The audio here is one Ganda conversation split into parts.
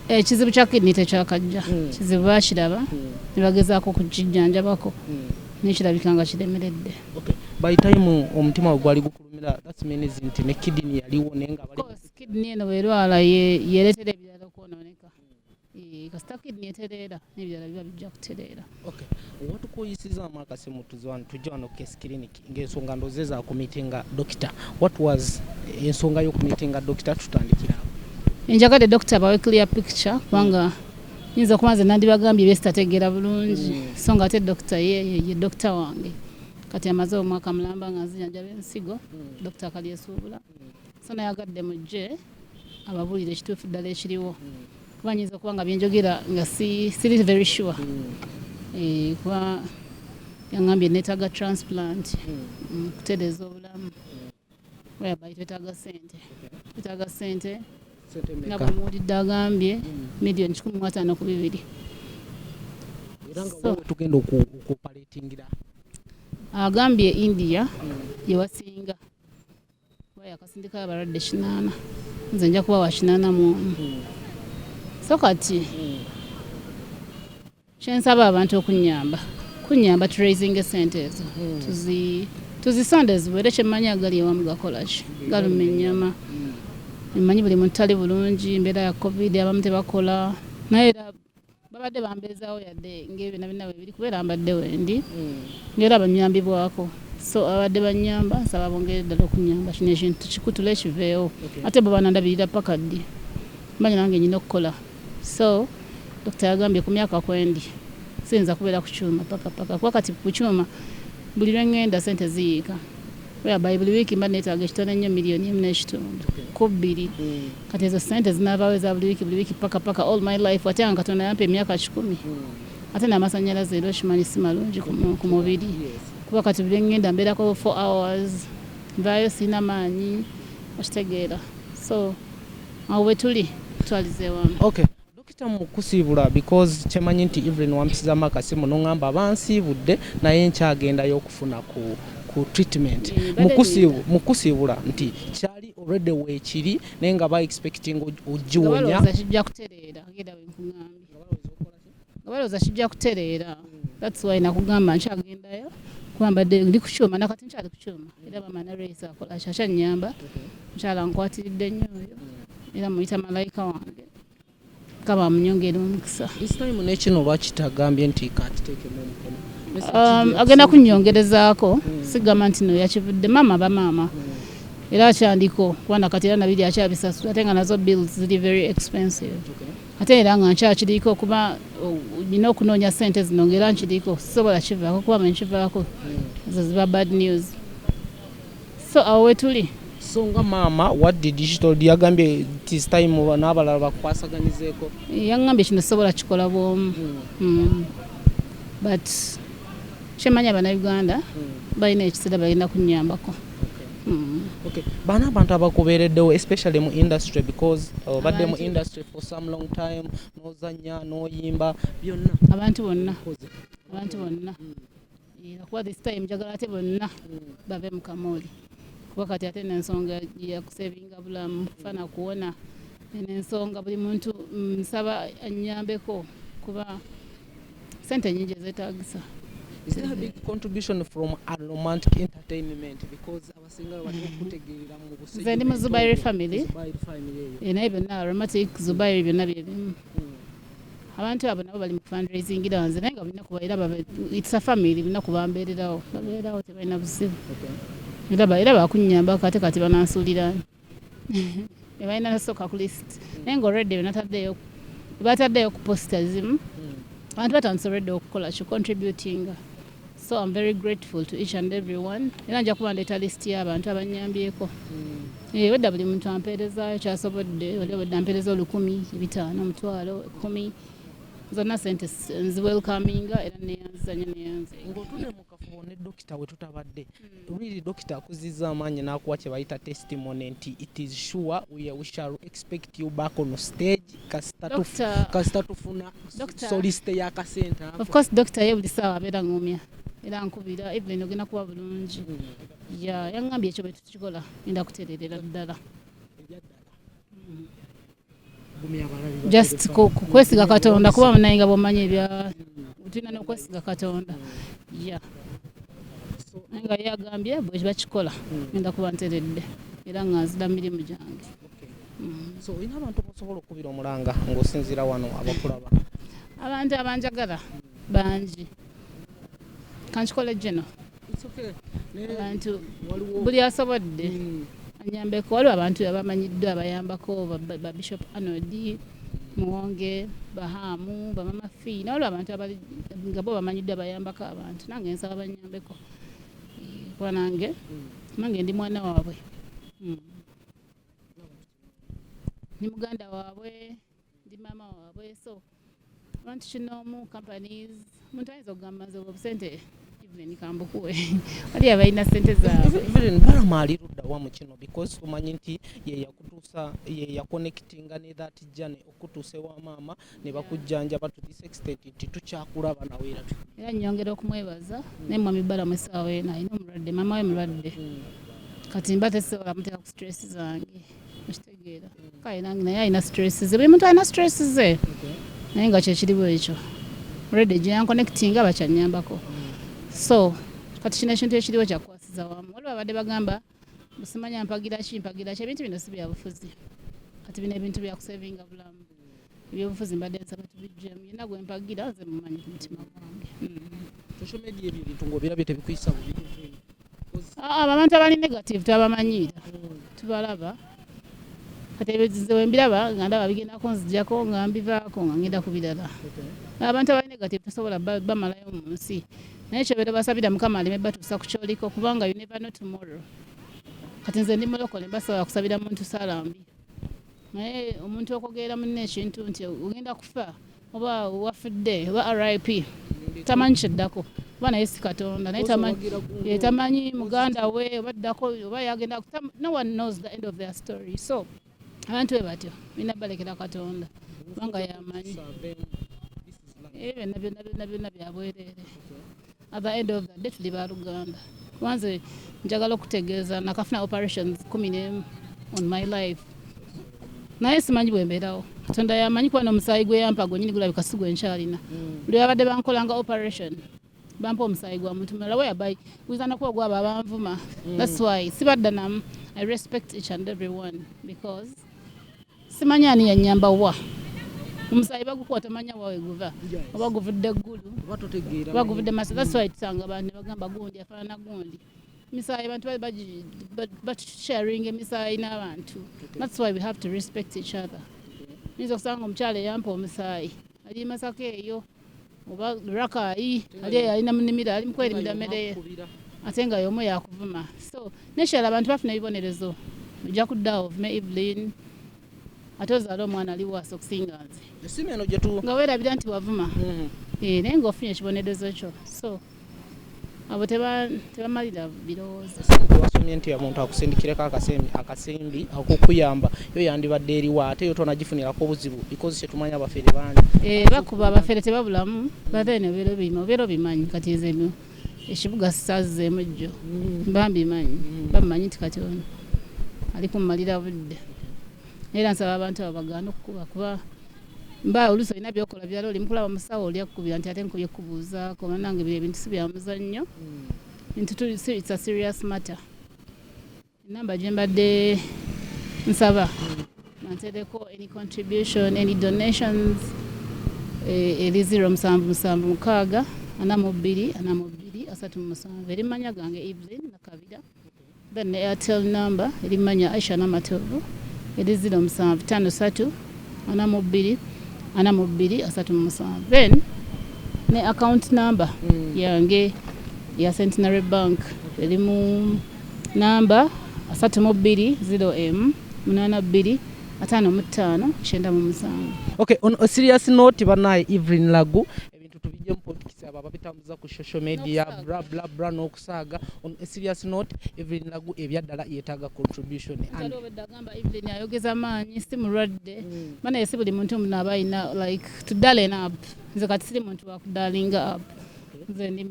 ekizibu eh, kya kidney tekyakajja hmm. kizibu bakiraba hmm. nebagezaako okukijjanjabako hmm. nekirabika nga kiremeredde by time omutima we gwali gukulumira that means nti ne kidney yaliwo naye nga bali kidney eno bwerwala yeretera ebirala okwonooneka eh, kasita kidney etereera n'ebirala biba bijja kutereera watukuyisizaamu akasimu tujja wano case clinic Ngensonga ndoze za ku meetinga Dokita what was ensonga yo ku meetinga Dokita tutandikira awo. Enjagadde Dokita bawe clear picture kubanga mm. nyinza kuba nze nandibagambye byesitategeera bulungi mm. so nga ate Dokita ye ye Dokita wange kati amaze omwaka mulamba nga nzijanjaba ensigo mm. Dokita kalyesuubula mm. so nayagadde mujje ababuulire ekituufu ddala ekiriwo kuba nyinza okuba nga byenjogera nga siri very sure eh, kuba yangambye netaaga transplant mm, kutereeza obulamu whereby twetaaga sente twetaaga sente nga bwemuwulidde agambye million kikumi mwataano ku bibiri tugenda okuopaletingira agambye india gyewasinga yakasindika abalwadde kinaana nze nja kuba wakinaana mwomu so kati kyensaba abantu okunyamba kunyamba turaising esente ezo tuzisonde ziwere kyemmanyi agali ewamu gakolaki galuma ennyama emmanyi buli muntu tali bulungi embeera ya covid abamu tebakola naye era babadde bambeezaawo yadde ng'ebyo nabina bwe biri kubeera mbadde wendi hmm. ngaera banyambibwako so abadde banyamba nsaba bongere ddala okunyamba kino ekintu kikutula ekiveewo ate bwe banandabirira paka ddi manya nange nyina okukola so dokita yagambye ku myaka kwendi siyinza kubeera ku kyuma pakapaka kuba kati ku kyuma buli lwe ŋŋenda sente ziyiika whereby buli wiiki mba neetaaga ekitone nnyo million emu n'ekitundu ku bbiri kati ezo ssente zinaabaawo eza buli wiiki buli wiiki paka paka all my life ate nga katonda yampa emyaka kikumi ate n'amasannyalaze era okimanyi si malungi ku mubiri kuba kati buli engenda mbeerako four hours nvaayo sirina maanyi okitegeera so awo bwe tuli twalize wamu okay Dokita mu kusiibula because kyemanyi nti Evelyn wampisizaamu akasimu n'ongamba aba nsiibudde naye nkyagendayo okufuna ku ku treatment mu kusiibula nti kyali already weekiri naye nga ba expecting ogiwonya kijja kutereera genda wenkugambye nga balowooza kijja kutereera that's why nakugamba nkyagendayo kuba mbadde ndi ku kyuma nakati nkyali ku kyuma era bama nareyisa akola kyakyannyamba mukyala nkwatiridde nnyo oyo era muyita malayika wange kaba munyongera omukisa isitaimu nekino oba kitagambye nti kakiteekemu omukono um, agenda kunyongerezaako hmm. sigamba nti no yakivudde maama bamaama hmm. era akyandiko kubanga kati era nabiri akyabisasula ate nga nazo bills ziri very expensive ate era nga nkyakiriko kuba nina okunoonya sente zino ngaera nkiriko sisobola kivaako kuba manyi kivaako hmm. ezo ziba bad news so awo wetuli so nga maama what did she told you yagambye this time n'abalala bakukwasaganyizeeko yangambye kino sobola kikola bwomu hmm. hmm. but kyemanya abanauganda hmm. balina ekisera balina kunyambako bana abantu abakubeereddewo especially mu industry because uh, obadde mu industry for some long time nozanya noyimba byonna abantu bonna abantu bonna kuba this time njagala ate bonna bave mu kamooli kuba kati ate nensonga yakusevinga bulamu fana kuwona nensonga buli muntu mm, nsaba anyambeko kuba sente nyingi ezetagisa Is there a big contribution from Romantic Entertainment because our nze ndi mu zubairi family eh, naye byonna aromatic zubairi byonna byebimu abantu abo nabo bali mu fundraising era nze naye nga balina kuba era it's a family balina kuba mbeererawo babeerawo tebalina buzibu era bakunyamba kate kati banansuuliraani ebalina nasooka ku list naye nga olredde benataddeyo bataddeyo ku posta zimu abantu batandise olredde okukola ki contributinga so am very grateful to each and every one era nja kuba ndeeta list y'abantu abanyambyeko hmm. eh, wedda buli muntu ampeerezayo kyasobodde oli wedda ampeereza olukumi ebitaano omutwalo ekumi zonna sente nziwelkaminga era neyanzizanyo neyanze kafubo ne dokita we tutabadde hmm. really dokita akuzizza amaanyi n'akuwa kye bayita testimony nti it is sure we, we shall expect you back on stage kasita tufuna soliste ya kasente of course dokita ye buli saawa abeera ngumya era nkubira even ogenda kuba bulungi hmm. ya yaŋambye ekyo bwe tukikola enda kutereerera ddala just kwesiga katonda kuba munaye nga bwomanyi ebya tulina nokwesiga katonda ya nga yagambye bwe bakikola ngenda kuba nteredde era nga nzida mirimu gyange mm. so olina abantu bosobola okukubira omulanga ngaosinziira wano abakulaba abantu abanjagala bangi kankikole geno abantu buli asobodde hmm. anyambeko waliwo abantu abamanyiddwa abayambako babishop anod muwonge bahamu bamama fi nawaliwo abantu nga bo bamanyiddwa abayambako abantu nange nsaba banyambeko eh, kuba nange hmm. nange ndi mwana waabwe hmm. ni muganda waabwe ndi maama waabwe so want to know more companies muntu ayinza okugamba nzoba obusente even kambukuwe wali abalina sente zaabweevelyn balama ali ludda wa mu kino because omanyi nti yeyakutuusa yeyakonekitinga ne that jane okutuusa ewa maama ne bakujjanjaba to this extent nti tukyakulaba nawe era era nyongera okumwebaza naye mwami balama esaawa eno alina omulwadde maama we mulwadde hmm. kati mba tesobola muteeka ku stress zange kale nange naye alina stress ze buli muntu alina stress ze naye nga kyekiri bwekyo redi gyeyankonectinga bakyanyambako so kati kino ekintu ekiriwo kyakukwasiza wamu waliwo abadde bagamba simanya mpagira ki mpagira ki ebintu bino si byabufuzi kati bino ebintu byakusevinga bulamu ebyobufuzi mbadde nsaba tubijjemu yena gwe mpagira nze mumanyi ku mutima gwange social media ebyo ebintu ng'obirabye tebikuyisa bubi ah, abo abantu abali negative tabamanyiira tubalaba kati ebyo nze wembiraba nga ndaba bigendako nzijako nga mbivaako nga ngenda ku birala abantu abali negative tosobola bamalayo mu nsi naye kyobeera basabira mukama aleme batuusa ku kyoliko kubanga you never know tomorrow kati nze ndi mulokole mbasobola kusabira muntu saala mbi naye omuntu okwogerera munne ekintu nti ogenda kufa oba wafudde oba rip tamanyi kyeddako oba naye si katonda naye tamanyi eh, muganda we oba ddako oba yagenda no one knows the end of their story so abantu be batyo bina balekera katonda kubanga yamanyi ebyo eh, byonna byonna byabwereere At the end of the day tuli baluganda wanze njagala okutegeeza nakafuna operations kumi nemu on my life naye simanyi bwembeerawo katonda yamanyi kuba nomusaayi gweyampa gwenyini gulabika si gwenkyalina mm. lwe babadde bankolanga operation bampa omusaayi gwa muntu mulala weyabai guzanakuba ogwabo abanvuma mm. thats why sibaddanamu i respect each and every one because Simanyi ani yanyamba wa omusaayi bagukuba tomanya wawe guva oba guvudde ggulu oba guvudde maso that's why tusanga abantu nebagamba gundi afaanana gundi misaayi abantu batusharinga emisaayi n'abantu that's why we have to respect each other nyinza okusanga omukyala eyampa omusaayi ali masako eyo oba rakayi ali eyo alina munimiro ali mukwerimira mmere ye ate nga yomu yakuvuma so nekirala abantu bafuna ebibonerezo ojja kuddawo ovume evelyn ate ozaala omwana ali waasi okusinga nze nga weerabira nti wavuma mm-hmm. eh, naye nga ofunye ekibonerezo kyo so abo tebamalira birowoozo. Ssente wasomye nti omuntu akusindikireko akasimbi akokuyamba yo yandibadde eriwo ate yo tonagifunirako obuzibu because kyetumanya abafere bangi eh, bakuba abafere tebabulamu bathene obeera obima obeera obimanyi kati nze ekibuga sazzeemu jjo mm. bambimanyi mm. bamanyi nti kati ono ali kumalira budde era nsaba abantu abo bagaana okukuba kuba mba oluusi olina byokola birala oli mukulaba musawo oli akukubira nti ate nkubye kubuuzaako banange bye ebintu si bya muzannyo hmm. nti it's a serious matter enamba gye mbadde nsaba banteereko hmm. any contribution any donations eh, eri zero musanvu musanvu mukaaga ana mu bbiri ana mu bbiri asatu mu musanvu eri manya gange evelyn nakabira Then ne Airtel number eri manya Aisha Namatovu eri ziro musanvu tano satu ana mu bbiri ana mu bbiri asatu mu musanvu then ne account number mm. yange ya Centenary Bank eri mu namba asatu mu bbiri ziro emu munaana bbiri ataano mu ttaano kyenda mu musanvu okay on a serious note banaye Evelyn Lagu ebintu tubijemu politics abo ababitambuza ku social media bla bla bla no kusaaga on a serious note Evelyn Lagu ebyaddala yetaaga contribution and agamba Evelyn ayogeza maanyi si mulwadde mm. maana yesi buli muntu omuntu aba alina like to darling up nze kati siri muntu wakudalinga up nze ndi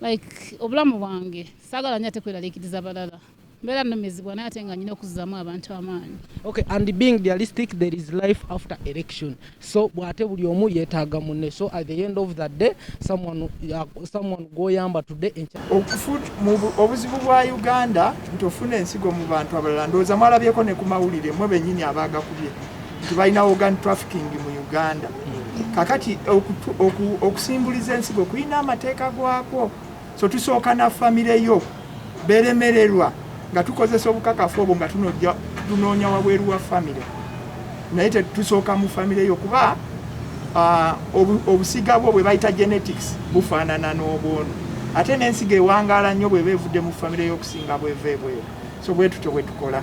like obulamu bwange saagala nyo ate kweralikiriza balala mbeera numizibwa naye ate nga nyina okuzzamu abantu amaanyi okay and being realistic there is life after election so bwate buli omu yetaaga munne so at the end of the day someone, uh, someone goyamba today obuzibu bwa uganda nti ofuna ensigo mu bantu abalala ndowooza mwalabyeko ne ku mawulire mwe benyini abaagakubye nti balina organ trafficking mu uganda kakati okusimbuliza ensigo kulina amateeka gwakwo so tusooka na famire yo beremererwa nga tukozesa obukakafu obwo nga tunojja tunoonya wabweru wa famire naye tetusooka mu famire yo kuba uh, obusiga bwo bwe bayita genetics bufaanana n'obwono ate n'ensiga ewangaala nnyo bweba evudde mu famire y'okusinga bweva ebweru so bwetutyo bwetukola